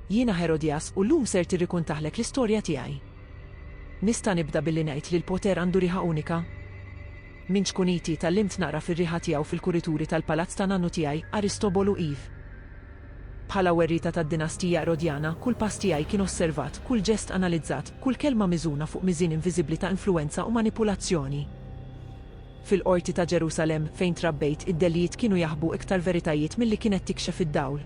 Jiena Herodias u llum ser tirrikuntahlek l-istorja tiegħi. Nista' nibda billi ngħid li l-poter għandu riħa unika? Minn ċkuniti tgħallimt naqra fir-riħa tiegħu fil-kurituri tal-palazz ta' nannu tiegħi, Aristobolu iv. Bħala werrieta tad-dinastija Erodjana, kull pass tiegħi kien osservat, kull ġest analizzat, kull kelma miżuna fuq miżien inviżibbli ta' influwenza u manipulazzjoni. Fil-Qorti ta' Ġerusalemm, fejn trabbejt, id-delijiet kienu jaħbu iktar veritajiet milli kienet tikxef id-dawl.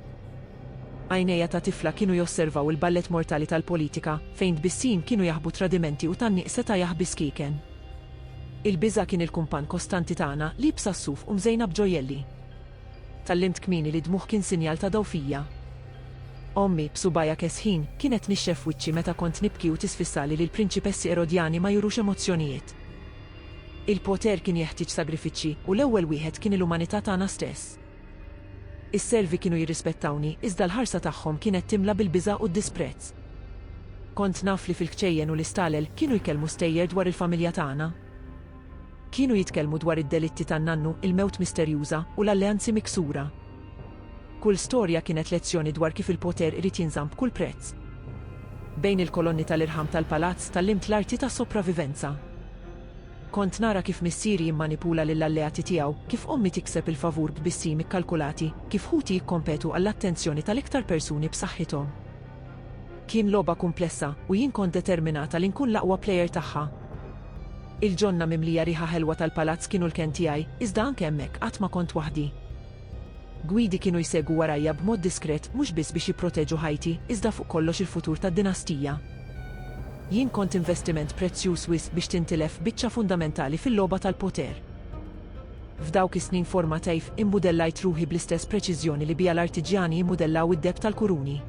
Għajnejja ta' tifla kienu josservaw il-ballet mortali tal-politika, fejn tbissim kienu jaħbu tradimenti u tgħanniq seta' jaħbi skieken. Il-biża' kien il-kumpann kostanti tagħna, liebsa s-suf u mżejna b'ġojjelli. Tgħallimt kmieni li d-dmugħ kien sinjal ta' dgħufija. Ommi, b'subgħajha kesħin, kienet tnixxef wiċċi meta kont nibki u tisfissali li l-prinċipessi Erodjani ma jurux emozzjonijiet. Il-poter kien jeħtieġ sagrifiċċji u l-ewwel wieħed kien il-umanità tagħna stess. Is-servi kienu jirrispettawni, iżda l-ħarsa tagħhom kienet timla bil-biża' u d-disprezz. Kont naf li fil-kċejjen u l-istalel kienu jkellmu stejjer dwar il-familja tagħna. Kienu jitkellmu dwar id-delitti tan-nannu, il-mewt misterjuża, u l-alleanzi miksura. Kull storja kienet lezzjoni dwar kif il-poter irid jinżamm b'kull prezz. Bejn il-kolonni tal-irħam tal-palazz tgħallimt l-arti ta' sopravivenza. Kont nara kif missieri jimmanipula lill-alleati tiegħu, kif ommi tikseb il-favur b'bissim ikkalkulati, kif ħuti jikkompetu għall-attenzjoni tal-iktar persuni b'saħħithom. Kien logħba kumplessa, u jien kont determinata li nkun l-aqwa plejer tagħha. Il-ġonna mimlija riħa ħelwa tal-palazz kienu l-kenn tiegħi, iżda anke hemmhekk qatt ma kont waħdi. Gwidi kienu jsegwu warajja b'mod diskret mhux biss biex jipproteġu ħajti, iżda fuq kollox il-futur tad-dinastija. Jien kont investiment prezzjuż wisq biex tintilef biċċa fundamentali fil-logħba tal-poter. F'dawk is-snin formateif immudellajt ruħi bl-istess preċiżjoni li biha l-artiġjani jimmudellaw id-deheb tal-kuruni.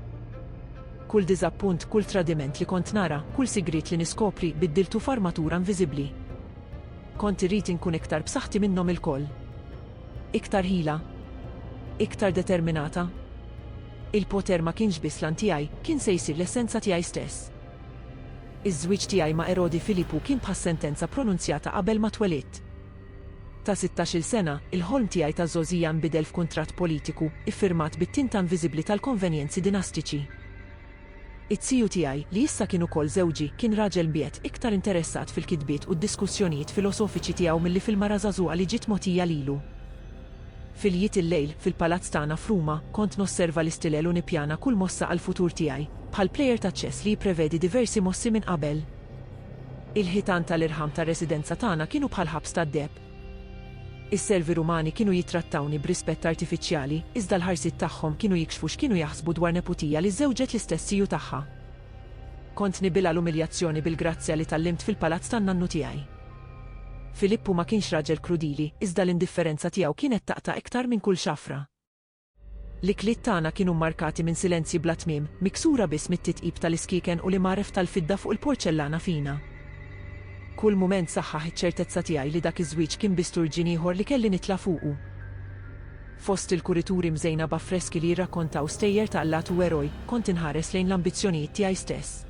Kull diżappunt, kull tradiment li kont nara, kull sigriet li niskopri, biddiltu f'armatura inviżibbli. Kont irrid inkun iktar b'saħħti minnhom ilkoll. Iktar ħila. Iktar determinata. Il-poter ma kienx biss l-għan tiegħi, kien se jsir l-essenza tiegħi stess. Iż-żwieġ tiegħi ma' Erodi Filippu kien bħas-sentenza pronunzjata qabel ma twelidt. Ta' sittax-il sena, il-ħolm tiegħi ta' żgħożija nbidel f'kuntratt politiku, iffirmat bit-tinta inviżibbli tal-konvenjenzi dinastiċi. It-tiju tiegħi, li issa kien ukoll żewġi, kien raġel mbiegħed, iktar interessat fil-kitbiet u d-diskussjonijiet filosofiċi tiegħu milli fil-mara żagħżugħa li ġiet mogħtija lilu. Filjiet il-lejl, fil-palazz tagħna f'Ruma, kont nosserva l-istilel u nippjana kull mossa għall-futur tiegħi, bħal plejer taċ-ċess li jipprevedi diversi mossi minn qabel. Il-ħitan ta' l-irħam tar-residenza tagħna kienu bħal ħabs tad-deheb. Is-servi Rumani kienu jittrattawni b'rispett artifiċjali, iżda l-ħarsiet tagħhom kienu jikxfu x'kienu jaħsbu dwar neputija li żżewġet l-istess tiju tagħha. Kont nibilgħa l-umiljazzjoni bil-grazzja li tgħallimt fil-palazz tan-nannu tiegħi. Filippu ma kienx raġel krudili, iżda l-indifferenza tiegħu kienet taqta' iktar minn kull xafra. L-ikliet tagħna kienu mmarkati minn silenzji bla tmiem, miksura biss mit-titqib tal-iskieken u l-imgħaref tal-fidda fuq il-porċellana fina. Kull mument saħħaħ iċ-ċertezza tiegħi li dak iż-żwieġ kien biss turġien ieħor li kelli nitla' fuqu. Fost il-kurituri mżejna b'affreski li jirrakkontaw stejjer ta' allat u eroj, kont inħares lejn l-ambizzjonijiet tiegħi stess.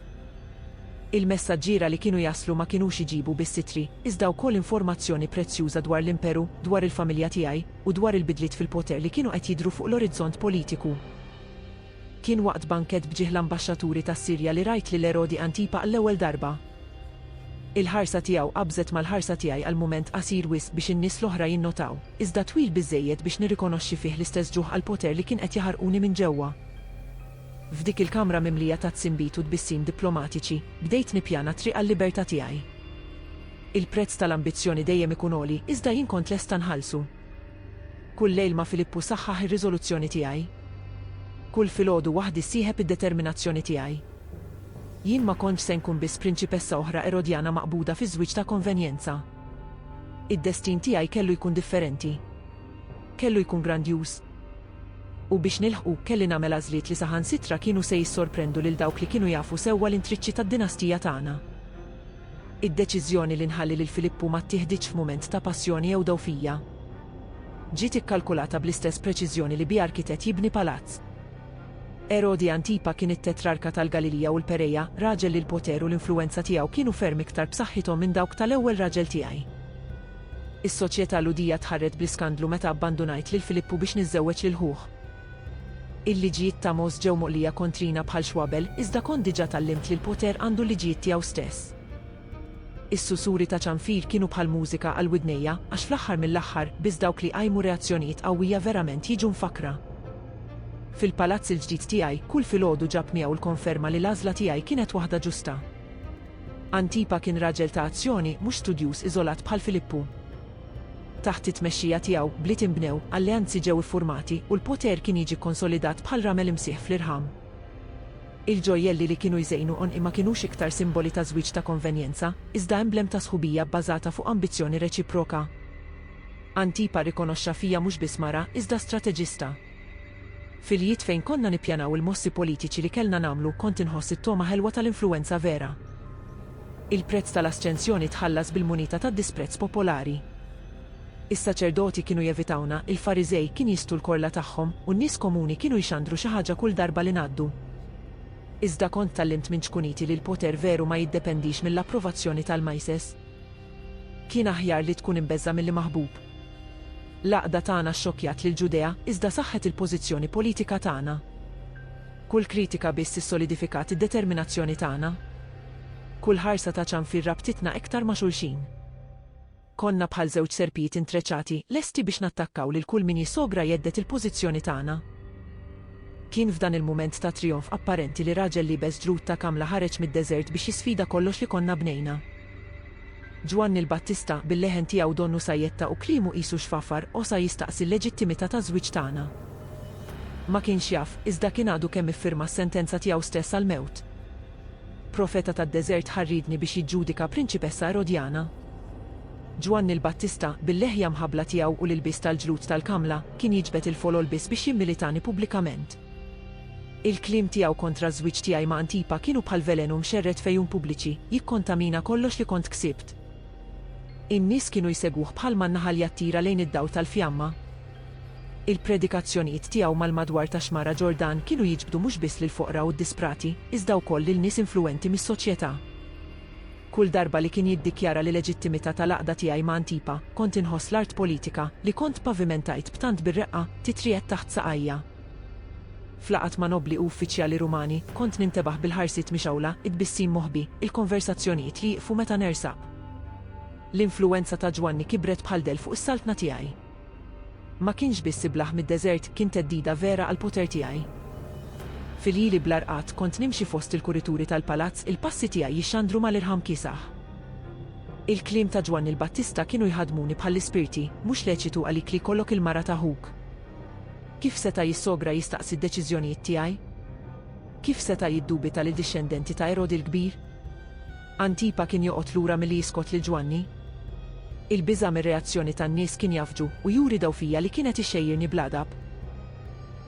Il-messaġġiera li kienu jaslu ma kinux iġibu biss ittri, iżda wkoll informazzjoni prezzjuża dwar l-Imperu, dwar il-familja tiegħi, u dwar il-bidliet fil-poter li kienu qed jidhru fuq l-orizzont politiku. Kien waqt bankett b'ġieħ l-ambaxxaturi tas-Sirja li rajt lil Erodi Antipa għall-ewwel darba. Il-ħarsa tiegħu qabżet mal-ħarsa tiegħi għal mument qasir wisq biex in-nies l-oħra jinnotaw, iżda twil biżżejjed biex nirrikonoxxi fih l-istess ġuħ għall-poter li kien qed jaħarquni minn ġewwa. F'dik il-kamra mimlija tat-tsibit u tbissim diplomatiċi, bdejt nippjana t-triq għal-libertà tiegħi. Il-prezz tal-ambizzjoni dejjem ikun għoli, iżda jien kont lesta nħallsu. Kull lejl ma' Filippu saħħaħ ir-riżoluzzjoni tiegħi. Kull filgħodu waħdi sieħeb id-determinazzjoni tiegħi. Jien ma kontx se nkun biss prinċipessa oħra Erodjana maqbuda fi żwieġ ta' konvenjenza. Id-destin tiegħi kellu jkun differenti. Kellu jkun grandjuż. U biex nilħqu, kelli nagħmel għażliet li saħansitra kienu se jissorprendu lil dawk li kienu jafu sewwa l-intriċċi tad-dinastija tagħna. Id-deċiżjoni li nħalli lil Filippu ma ttieħditx f'mument ta' passjoni jew dgħufija. Ġiet ikkalkulata bl-istess preċiżjoni li biha arkitett jibni palazz. Erodi Antipa kien it-tetrarka tal-Galilija u l-Pereja, raġel li l-poter u l-influwenza tiegħu kienu ferm iktar b'saħħithom minn dawk tal-ewwel raġel tiegħi. Is-soċjetà Lhudija tħarret bl-iskandlu meta abbandunajt lil Filippu biex niżżewweġ lil ħuh. Il-liġijiet ta' Mos ġew moqlija kontrina bħal xwabel, iżda kont diġà tgħallimt li l-poter għandu l-liġijiet tiegħu stess. Is-susuri ta' ċanfir kienu bħal mużika għal widnejja, għax fl-aħħar mill-aħħar, biss dawk li jqajmu reazzjonijiet qawwija verament jiġu mfakkra. Fil-palazz il-ġdid tiegħi, kull filgħodu ġab miegħu l-konferma li l-għażla tiegħi kienet waħda ġusta. Antipa kien raġel ta' azzjoni, mhux studjuż iżolat bħal Filippu. Taħt it-tmexxija tiegħu, bliet inbnew, alleanzi ġew iffurmati, u l-poter kien jiġi kkonsolidat bħal ramel imsieħ fl-irħam. Il-ġojjelli li kienu jżejnu għonqi ma kinux iktar simboli ta' żwieġ ta' konvenjenza, iżda emblem ta' sħubija bbażata fuq ambizzjoni reċiproka. Antipa rrikonoxxa fija mhux biss mara, iżda strateġista. F'iljiet fejn konna nippjanaw il-mossi politiċi li kellna nagħmlu, kont inħoss it-togħma ħelwa tal-influwenza vera. Il-prezz tal-asċensjoni tħallas bil-munita tad-disprezz popolari. Is-saċerdoti kienu jevitawna, il-Fariżej kien jistu l-korla tagħhom, u n-nies komuni kienu jxandru xi ħaġa kull darba li ngħaddu. Iżda kont tgħallimt minn ċkuniti li l-poter veru ma jiddependix mill-approvazzjoni tal-majses. Kien aħjar li tkun imbeżża' milli maħbub. L-għaqda tagħna xxokkjat lill-Ġudea, iżda saħħet il-pożizzjoni politika tagħna. Kull kritika biss issolidifikat id-determinazzjoni tagħna. Kull ħarsa ta' ċanfir rabtitna iktar ma' xulxin. Konna bħal żewġ serpijiet intreċati, lesti biex nattakkaw lil kull min jisogra jhedded il-pożizzjoni tagħna. Kien f'dan il-mument ta' trijonf apparenti li raġel liebes ġrud ta' kamla ħareġ mid-deżert biex jisfida kollox li konna bnejna. Ġwanni l-Battista, bil-leħen tiegħu donnu sajjetta u kliemu qisu xfafar, osa jistaqsi l-leġittimità taż-żwieġ tagħna. Ma kienx jaf, iżda kien għadu kemm iffirma s-sentenza tiegħu stess għall-mewt. Profeta tad-deżert ħa rridni biex jiġġudika prinċipessa Erodjana. Ġwanni l-Battista, bil-leħja mħabbla tiegħu u l-ilbies tal-ġlud tal-kamla, kien jiġbed il-folol biss biex jimmilitani pubblikament. Il-kliem tiegħu kontra ż-żwieġ tiegħi ma' Antipa kienu bħal velenu mxerred f'għejun pubbliċi, jikkontamina kollox li kont ksibt. In-nies kienu jsegwuh bħalma n-naħal jattira lejn id-dawl tal-fjamma. Il-predikazzjonijiet tiegħu mal-madwar tax-Xmara Ġordan kienu jiġbdu mhux biss lill-foqra u d-disprati, iżda wkoll lil nies influwenti mis-soċjetà. Kull darba li kien jiddikjara l-leġittimità tal-għaqda tiegħi ma' Antipa, kont inħoss l-art politika, li kont ppavimentajt b'tant bir-reqqa, titriegħed taħt saqajja. F'laqgħat ma' nobbli u uffiċjali Rumani, kont nintebaħ bil-ħarsiet mixgħula, it-tbissim moħbi, il-konversazzjonijiet li jieqfu meta nersaq. L-influwenza ta' Ġwanni kibret bħal dell fuq is-saltna tiegħi. Ma kienx biss iblah mid-deżert, kien theddida vera għall-poter tiegħi. Fil-lili bla rqad, kont nimxi fost il-kurituri tal-palazz, il-passi tiegħi jixxandru mal-irħam kiesaħ. Il-kliem ta' Ġwanni l-Battista kienu jħaddmuni bħall-ispirti, Mhux leċitu għalik li jkollok il-mara ta' ħuk. Kif seta' jissogra jistaqsi d-deċiżjonijiet tiegħi? Kif seta' jiddubita lil dixxendenti ta' Erodi l-Kbir? Antipa kien joqgħod lura milli jiskot lil Ġwanni. Il-biża' mir-reazzjoni tan-nies kien jafġu u juri daw fija li kien qed ixxejjirni bl-għadab.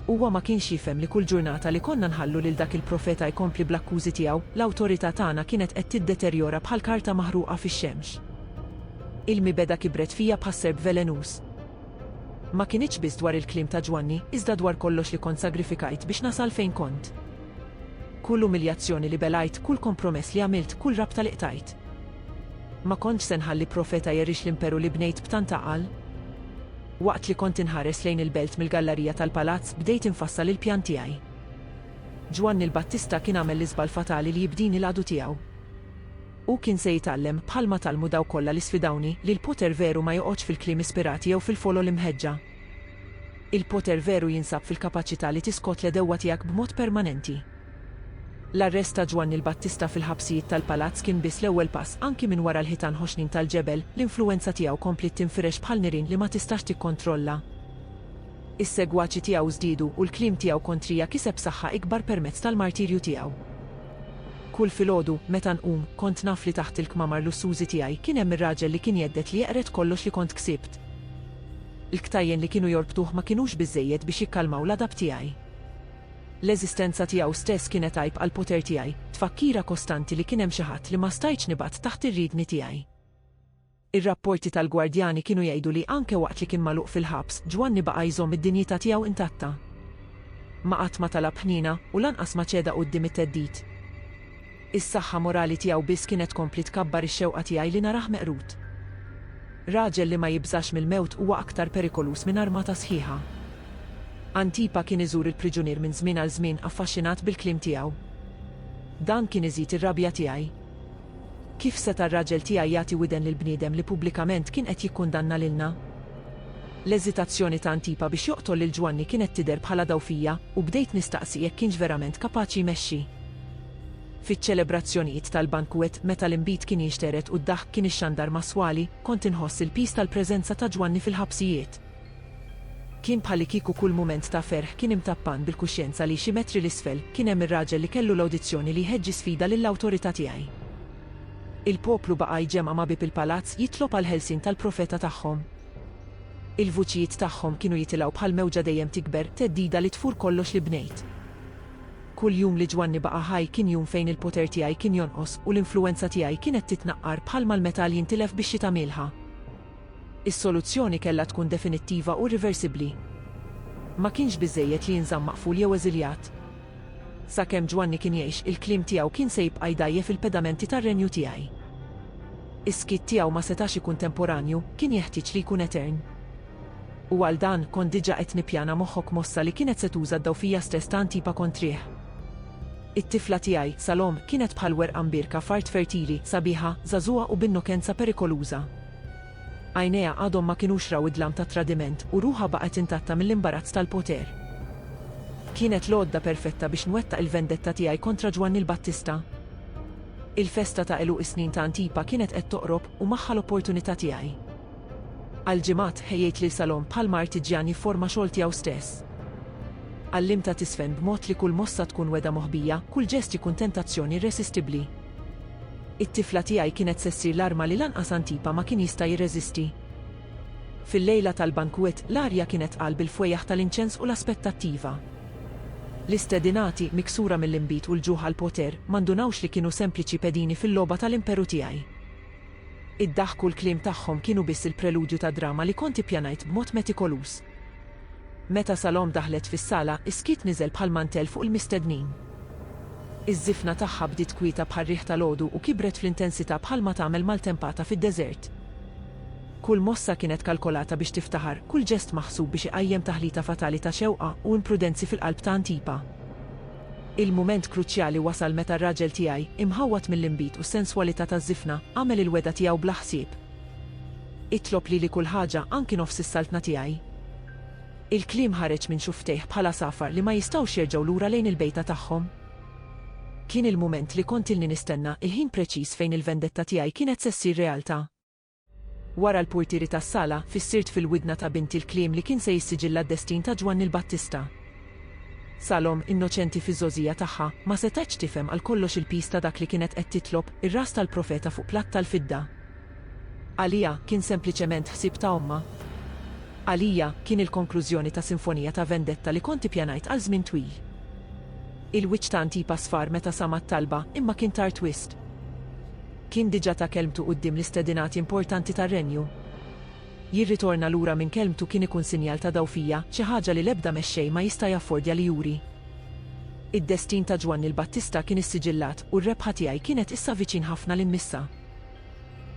Huwa ma kienx jifhem li kull ġurnata li konna nħallu lil dak il-profeta jkompli bl-akkużi tiegħu, l-awtorità tagħna kienet qed tiddeterjora bħal karta maħruqa fix-xemx. Il-mibegħda kibret fija bħas-serp velenuż. Ma kinitx biss dwar il-kliem ta' Ġwanni, iżda dwar kollox li kont sagrifikajt biex nasal fejn kont. Kull umiljazzjoni li belgħajt, kull kompromess li għamilt, kull rabta li qtajt. Ma kontx se nħalli profeta jerix l-imperu li bnejt b'tant għaqal. Waqt li kont inħares lejn il-belt mill-gallarija tal-palazz, bdejt infassal il-pjan tiegħi. Ġwanni l-Battista kien għamel l-iżball fatali li jibdini l-għadu tiegħu. Hu kien se jitgħallem, bħalma tgħallmu dawk kollha li sfidawni, li l-poter veru ma joqgħodx fil-kliem ispirat jew fil-folol imħeġġa. Il-poter veru jinsab fil-kapaċità li tiskot l-għedewwa tiegħek b'mod permanenti. L-arrest ta' Ġwanni l-Battista fil-ħabsijiet tal-palazz kien biss l-ewwel pass, anki minn wara l-ħitan ħoxnin tal-ġebel, l-influwenza tiegħu kompliet tinfirex bħal nirien li ma tistax tikkontrolla. Is-segwaċi tiegħu żdiedu, u l-kliem tiegħu kontrija kiseb saħħa ikbar permezz tal-martirju tiegħu. Kull filgħodu, meta nqum, kont naf li taħt il-kmamar lussużi tiegħi kien hemm ir-raġel li kien jhedded li jeqred kollox li kont ksibt. Il-ktajjen li kienu jorbtuh ma kinux biżżejjed biex jikkalmaw l-għadab tiegħi. L-eżistenza tiegħu stess kienet għajb għall-poter tiegħi, tfakkira kostanti li kien hemm xi ħadd li ma stajtx nibgħat taħt ir-riedni tiegħi. Ir-rapporti tal-gwardjani kienu jgħidu li anke waqt li kien magħluq fil-ħabs, Ġwanni baqa' jżomm id-dinjità tiegħu intatta. Ma qatt ma talab ħniena, u lanqas ma ċeda quddiem it-theddid. Is-saħħa morali tiegħu biss kienet tkompli tkabbar ix-xewqa tiegħi li narah meqrud. Raġel li ma jibżax mill-mewt huwa aktar perikoluż minn armata sħiħa. Antipa kien iżur il-priġunier minn żmien għal żmien affaxxinat bil-kliem tiegħu. Dan kien iżid ir-rabja tiegħi. Kif seta' r-raġel tiegħi jagħti widen lil bniedem li pubblikament kien qed jikkundanna lilna? L-eżitazzjoni ta' Antipa biex joqtol lil Ġwanni kienet tidher bħala dgħufija u bdejt nistaqsi jekk kienx verament kapaċi jmexxi. Fiċ-ċelebrazzjonijiet tal-bankwett meta l-inbid kien jinxtered u d-daħk kien ixxandar mas-swali, kont inħoss il-piż tal-preżenza ta' Ġwanni fil-ħabsijiet. Kien bħalikieku kull mument ta' ferħ kien imtappan bil-kuxjenza li xi metri 'l isfel kien hemm ir-raġel li kellu l-awdizzjoni li jħeġġi sfida lill-awtorità tiegħi. Il-poplu baqa' jġemgħa ma' bieb il-palazz jitlob għall-ħelsien tal-profeta tagħhom. Il-vuċijiet tagħhom kienu jitilgħu bħal mewġa dejjem tikber, theddida li tfur kollox li bnejt. Kull jum li Ġwanni baqa' ħaj kien jum fejn il-poter tiegħi kien jonqos u l-influwenza tiegħi kienet titnaqqar bħalma l-metall jintilef bix-xita mielħa. Is-soluzzjoni kellha tkun definittiva u irriversibbli. Ma kienx biżżejjed li jinżamm maqful jew eżiljat. Sakemm Ġwanni kien jgħix, il-kliem tiegħu kien se jibqa' jdgħajjef il-pedamenti tar-Renju tiegħi. Is-skiet tiegħu ma setax ikun temporanju, kien jeħtieġ li jkun etern. U għal dan, kont diġà qed nippjana moħħok mossa li kienet se tuża d-dgħufija stess ta' Antipa kontrih. It-tifla tiegħi, Salome, kienet bħal werqa mbierka f'art fertili, sabiħa, żagħżugħa u b'innokenza perikoluża. Għajnejha għadhom ma kinux raw id-dlam tat-tradiment, u ruħha baqgħet intatta mill-imbarazz tal-poter. Kienet l-għodda perfetta biex nwettaq il-vendetta tiegħi kontra Ġwanni l-Battista. Il-festa ta' għeluq is-snin ta' Antipa kienet qed toqrob, u magħha l-opportunità tiegħi. Għal ġimgħat, ħejjejt lil salon bħalma artiġjan jifforma xogħol tiegħu stess. Għallimtha tiżfen b'mod li kull mossa tkun wegħda moħbija, kull ġest jkun tentazzjoni irresistibbli. It-tifla tiegħi kienet se ssir l-arma li lanqas Antipa ma kien jista' jirreżisti. Fil-lejla tal-bankwett, l-arja kienet tqal bil-fwejjaħ tal-inċens u l-aspettattiva. L-istedinati, miksura mill-inbid u l-ġuħ għall-poter, ma ndunawx li kienu sempliċi pedini fil-logħba tal-imperu tiegħi. Id-daħk u l-kliem tagħhom kienu biss il-preludju ta' drama li kont ippjanajt b'mod metikoluż. Meta Salome daħlet fis-sala, is-skiet niżel bħal mantell fuq il-mistednin. Iż-żifna tagħha bdiet kwieta bħar-riħ tal-għodu u kibret fl-intensità bħalma tagħmel maltempata fid-deżert. Kull mossa kienet kalkolata biex tiftaħar, kull ġest maħsub biex iqajjem taħlita fatali ta' xewqa u imprudenzi fil-qalb ta' Antipa. Il-mument kruċjali wasal meta r-raġel tiegħi, imħawwad mill-inbid u s-senswalità taż-żifna, għamel il-wegħda tiegħu bla ħsieb. Itlob lili kull ħaġa, anki nofs is-saltna tiegħi. Il-kliem ħareġ minn xufftejh bħal għasafar li ma jistgħux jerġgħu lura lejn il-bejta tagħhom. Kien il-mument li kont ilni nistenna, il-ħin preċiż fejn il-vendetta tiegħi kienet se ssir realtà. Wara l-purtieri tas-sala, fissirt fil-widna ta' binti l-kliem li kien se jissiġilla d-destin ta' Ġwanni l-Battista. Salom, innoċenti fiż-żgħożija tagħha, ma setgħetx tifhem għal kollox il-piż ta' dak li kienet qed titlob, ir-ras tal-profeta fuq platt tal-fidda. Għaliha, kien sempliċement ħsieb ta' ommha. Għalija, kien il-konklużjoni ta' sinfonija ta' vendetta li kont ippjanajt għal żmien twil. Il-wiċċ ta' Antipa sfar meta sama' t-talba, imma kien tard wisq. Kien diġà ta kelmtu quddiem l-istedinati importanti tar-Renju. Jirritorna lura minn kelmtu kien ikun sinjal ta' dgħufija, xi ħaġa li l-ebda mexxej ma jista' jaffordja li juri. Id-destin ta' Ġwanni l-Battista kien issiġillat u r-rebħa tiegħi kienet issa viċin ħafna li mmissha.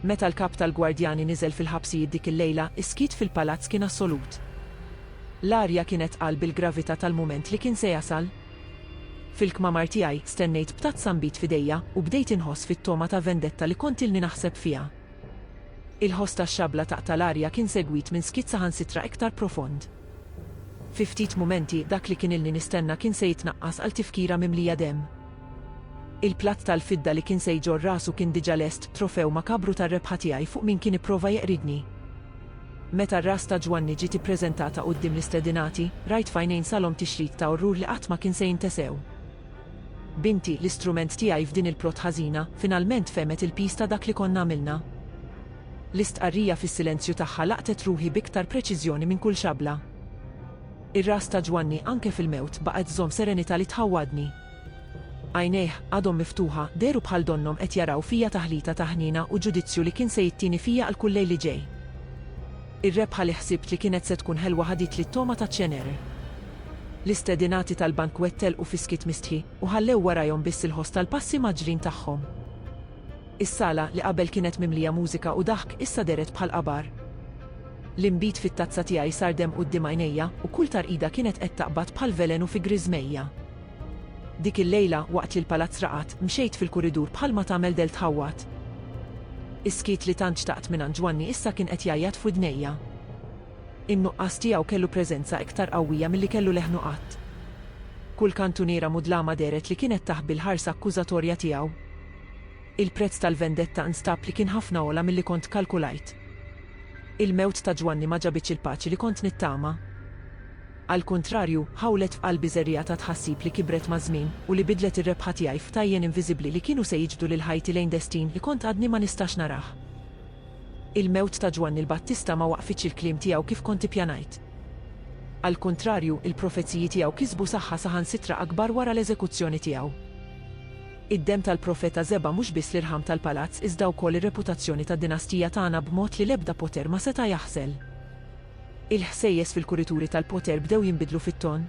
Meta l-Kap tal-Gwardjani niżel fil-ħabsijiet dik il-lejla, is-skiet fil-palazz kien assolut. L-arja kienet tqal bil-gravità tal-mument li kien se jasal. Fil-kmamar tiegħi stennejt b'tazza nbid f'idejja u bdejt inħoss fit-togħma ta' vendetta li kont ilni naħseb fiha. Il-ħoss tax-xabla taqta' l-arja kien segwit minn skiet saħansitra iktar profond. Fi ftit mumenti, dak li kien ilni nistenna kien se jitnaqqas għal tifkira mimlija demm. Il-platt tal-fidda li kien se jġorr rasu kien diġà lest, trofew makabru tar-rebħa tiegħi fuq min kien ipprova jeqridni. Meta r-ras ta' Ġwanni ġiet ippreżentata quddiem l-istedinati, rajt f'għajnejn Salom tixrid ta' orrur li qatt ma kien se jintesew. Binti, l-istrument tiegħi f'din il-plot ħażina, finalment fehmet il-piż ta' dak li konna għamilna. L-istqarrija fis-silenzju tagħha laqtet ruħi b'iktar preċiżjoni minn kull xabla. Ir-ras ta' Ġwanni, anke fil-mewt, baqgħet żżomm serenità li tħawwadni. Għajnejh, għadhom miftuħa, dehru bħal donnhom qed jaraw fija taħlita ta' ħniena u ġudizzju li kien se jittieni fija għal kull lejl li ġej. Ir-rebħa li ħsibt li kienet se tkun ħelwa ħaditli t-togħma taċ-ċener. L-istedinati tal-bankwett telqu fi skiet mistħi, u ħallew warajhom biss il-ħoss tal-passi mgħaġġlin tagħhom. Is-sala, li qabel kienet mimlija mużika u daħk, issa dehret bħal qabar. L-inbid fit-tazza tiegħi sar demm quddiem għajnejja, u kull tarqida kienet qed taqbad bħal velenu fi griżmejja. Dik il-lejla, waqt li l-palazz raqad, mxejt fil-kuridur bħalma tagħmel del tħawwad. Is-skiet li tant xtaqt mingħand Ġwanni issa kien qed jgħajjat f'widnejja. In-nuqqas tiegħu kellu preżenza iktar qawwija milli kellu leħnu qatt. Kull kantuniera mudlama dehret li kienet taħbi l-ħarsa akkużatorja tiegħu. Il-prezz tal-vendetta nstab li kien ħafna ogħla milli kont kkalkulajt. Il-mewt ta' Ġwanni ma ġabitx il-paċi li kont nittama. Għall-kuntrarju, ħawlet f'qalbi żerriegħa ta' tħassib li kibret maż-żmien u li bidlet ir-rebħa tiegħi f'tajjen inviżibbli li kienu se jiġbdu lil ħajti lejn destin li kont għadni ma nistax narah. Il-mewt ta' Ġwanni l-Battista ma waqqfitx il-kliem tiegħu kif kont ippjanajt. Għall-kuntrarju, il-profeziji tiegħu kisbu saħħa saħansitra akbar wara l-eżekuzzjoni tiegħu. Id-demm tal-profeta żeba' mhux biss l-irħam tal-palazz iżda wkoll ir-reputazzjoni tad-dinastija tagħna b'mod li l-ebda poter ma seta' jaħżel. Il-ħsejjes fil-kurituri tal-poter bdew jinbidlu fit-ton.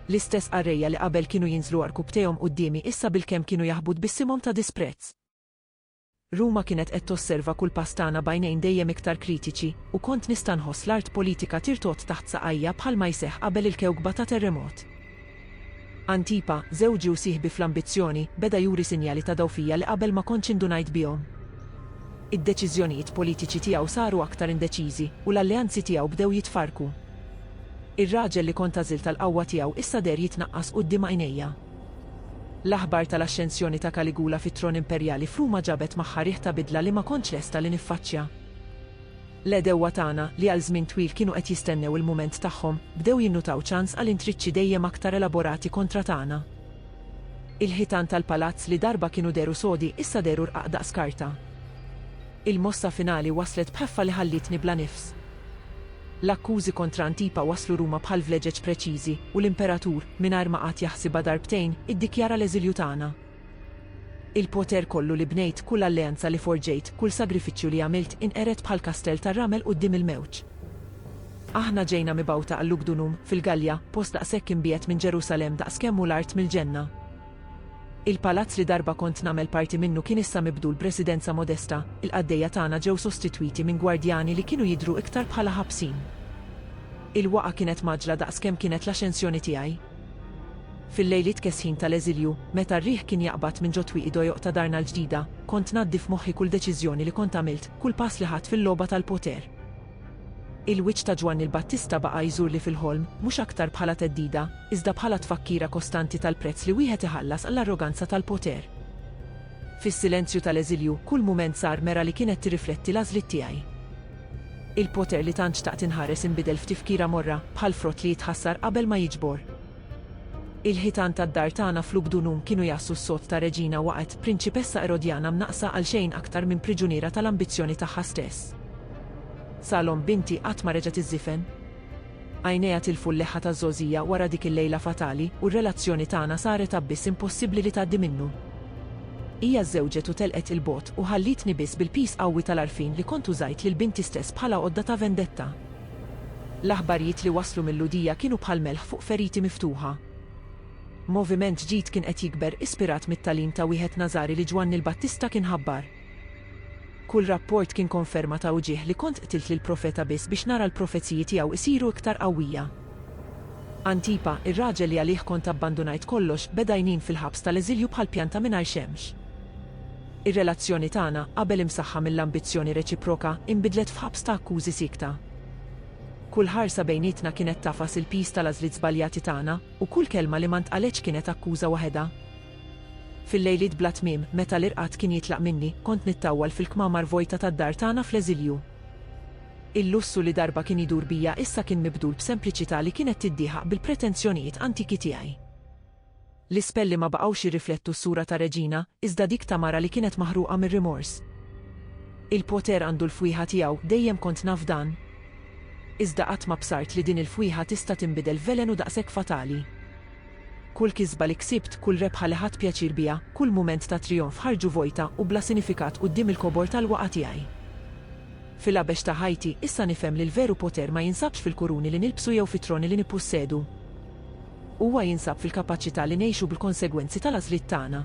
L-istess qarrejja li qabel kienu jinżlu għarkupptejhom quddiemi issa bilkemm kienu jaħbu tbissimhom ta' disprezz. Ruma kienet qed tosserva kull pass tagħna b'għajnejn dejjem iktar kritiċi, u kont nista' nħoss l-art politika tirtod taħt saqajja bħalma jseħħ qabel il-kewkba ta' terremot. Antipa, żewġi u sieħbi fl-ambizzjoni, beda juri sinjali ta' dgħufija li qabel ma kontx indunajt bihom. Id-deċiżjonijiet politiċi tiegħu saru aktar indeċiżi, u l-alleanzi tiegħu bdew jitfarrku. Ir-raġel li kont għażilt għall-qawwa tiegħu issa deher jitnaqqas quddiem għajnejja. L-aħbar tal-axxensjoni ta' Kaligula fit-tron imperjali f'Ruma ġabet magħha riħ ta' bidla li ma kontx lesta li niffaċċja. L-għedewwa tagħna, li għal żmien twil kienu qed jistennew il-mument tagħhom, bdew jinnutaw ċans għal intriċċi dejjem aktar elaborati kontra tagħna. Il-ħitan tal-palazz li darba kienu dehru sodi issa dehru rqaq daqs karta. Il-mossa finali waslet b'ħeffa li ħallietni bla nifs. L-akkużi kontra Antipa waslu Ruma bħal vleġeġ preċiżi, u l-Imperatur, mingħajr ma qagħad jaħsibha darbtejn, iddikjara l-eżilju tagħna. Il-poter kollu li bnejt, kull alleanza li forġejt, kull sagrifiċċju li għamilt inqered bħal kastell tar-ramel quddiem il-mewġ. Aħna ġejna mibgħuta għal Lugdunum, fil-Gallja, post daqshekk imbiegħed minn Ġerusalemm daqskemm hu l-art mill-ġenna. Il-palazz li darba kont nagħmel parti minnu kien issa mibdul b'residenza modesta, il-qaddejja tagħna ġew sostitwiti minn gwardjani li kienu jidhru iktar bħala ħabsin. Il-waqgħa kienet mgħaġġla daqskemm kienet l-axensjoni tiegħi. Fil-lejliet kesħin tal-eżilju, meta r-riħ kien jaqbad minn ġo twieqi dojoq ta' darna l-ġdida, kont ngħaddi f'moħħi kull deċiżjoni li kont għamilt, kull pass li ħadt fil-logħba tal-poter. Il-wiċċ ta' Ġwanni l-Battista baqa' jżurli fil-ħolm, mhux aktar bħala theddida, iżda bħala tfakkira kostanti tal-prezz li wieħed iħallas għall-arroganza tal-poter. Fis-silenzju tal-eżilju, kull mument sar mera li kienet tirrifletti l-għażliet tiegħi. Il-poter li tant xtaqt inħares inbidel f'tifkira morra, bħal frott li jitħassar qabel ma jiġbor. Il-ħitan tad-dar tagħna f'Lugdunum kienu jgħassu s-sod ta' reġina waqgħet, prinċipessa Erodjana mnaqqsa għal xejn aktar minn priġuniera tal-ambizzjoni tagħha stess. Salom, binti, qatt ma reġgħet iżżifen. Għajnejha tilfu l-leħħa ta' Żgħożija wara dik il-lejla fatali u r-relazzjoni tagħna saret abbiss impossibbli li tgħaddi minnu. Hija żżewġet u telqet 'il bogħod u ħallietni biss bil-piż qawwi tal-għarfien li kont użajt lil binti stess bħala għodda ta' vendetta. L-aħbarijiet li waslu mil-Lhudija kienu bħal melħ fuq feriti miftuħa. Moviment ġdid kien qed jikber, ispirat mit-tagħlim ta' wieħed Nażari li Ġwanni l-Battista kien ħabbar. Kull rapport kien konferma ta' uġigħ li kont qtilt lill-profeta biss biex nara l-profeziji tiegħu jsiru iktar qawwija. Antipa, ir-raġel li għalih kont abbandunajt kollox, beda jnin fil-ħabs tal-eżilju bħal pjanta mingħajr xemx. Ir-relazzjoni tagħna, qabel imsaħħa mill-ambizzjoni reċiproka, inbidlet f'ħabs ta' akkużi siekta. Kull ħarsa bejnietna kienet tagħfas il-piż tal-għażliet żbaljati tagħna, u kull kelma li ma ntqaletx kienet akkuża waħedha. Fil-lejliet bla tmiem, meta l-irqad kien jitlaq minni, kont nittawwal fil-kmamar vojta tad-dar tagħna fl-eżilju. Il-lussu li darba kien idur bija issa kien mibdul b'sempliċità li kienet tiddieħaq bil-pretensjonijiet antiki tiegħi. L-ispelli ma baqgħux jirriflettu s-sura ta' reġina, iżda dik ta' mara li kienet maħruqa mir-rimors. Il-poter għandu l-fwieħa tiegħu, dejjem kont naf dan. Iżda qatt ma bsart li din il-fwieħa tista' tinbidel f'velenu daqshekk fatali. Kull kisba li ksibt, kull rebħa li ħadt pjaċir biha, kull mument ta' trijonf ħarġu vojta u bla sinifikat quddiem il-kobor tal-waqgħa tiegħi. Fil-għabex ta' ħajti, issa nifhem li l-veru poter ma jinsabx fil-kuruni li nilbsu jew fit-troni li nippossedu. Huwa jinsab fil-kapaċità li ngħixu bil-konsegwenzi tal-għażliet tagħna.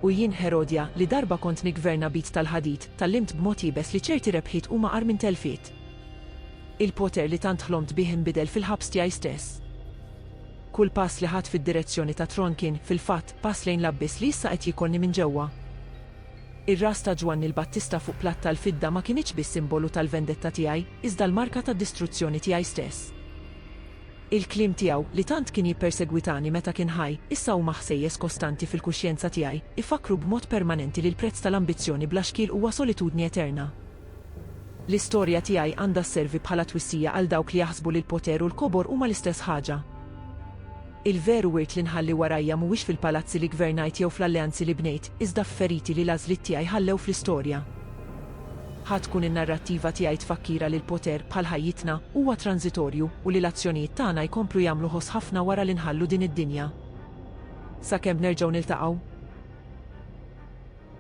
U jien, Herodja, li darba kont niggverna b'id tal-ħadid, tgħallimt b'mod iebes li ċerti rebħiet huma agħar minn telfiet. Il-poter li tant ħlomt bih inbidel fil-ħabs tiegħi stess. Kull pass li ħadt fid-direzzjoni tat-tron kien, fil-fatt, pass lejn l-abbiss li issa qed jiekolni minn ġewwa. Ir-ras ta' Ġwanni l-Battista fuq platt tal-fidda ma kinitx biss simbolu tal-vendetta tiegħi, iżda l-marka tad-distruzzjoni tiegħi stess. Il-kliem tiegħu, li tant kien jippersegwitani meta kien ħaj, issa huma ħsejjes kostanti fil-kuxjenza tiegħi, ifakkru b'mod permanenti li l-prezz tal-ambizzjoni bla xkiel huwa solitudni eterna. L-istorja tiegħi għandha sservi bħala twissija għal dawk li jaħsbu li l-poter u l-kobor huma l-istess ħaġa. Il-veru wirt li nħalli warajja mhuwiex fil-palazzi li gvernajt jew fl-alleanzi li bnejt, iżda f'feriti li l-għażliet tiegħi ħallew fl-istorja. Ħa tkun in-narrattiva tiegħi tfakkira li l-poter, bħal ħajjitna, huwa tranżitorju u li l-azzjonijiet tagħna jkomplu jagħmlu ħoss ħafna wara li nħallu din id-dinja. Sakemm nerġgħu niltaqgħu.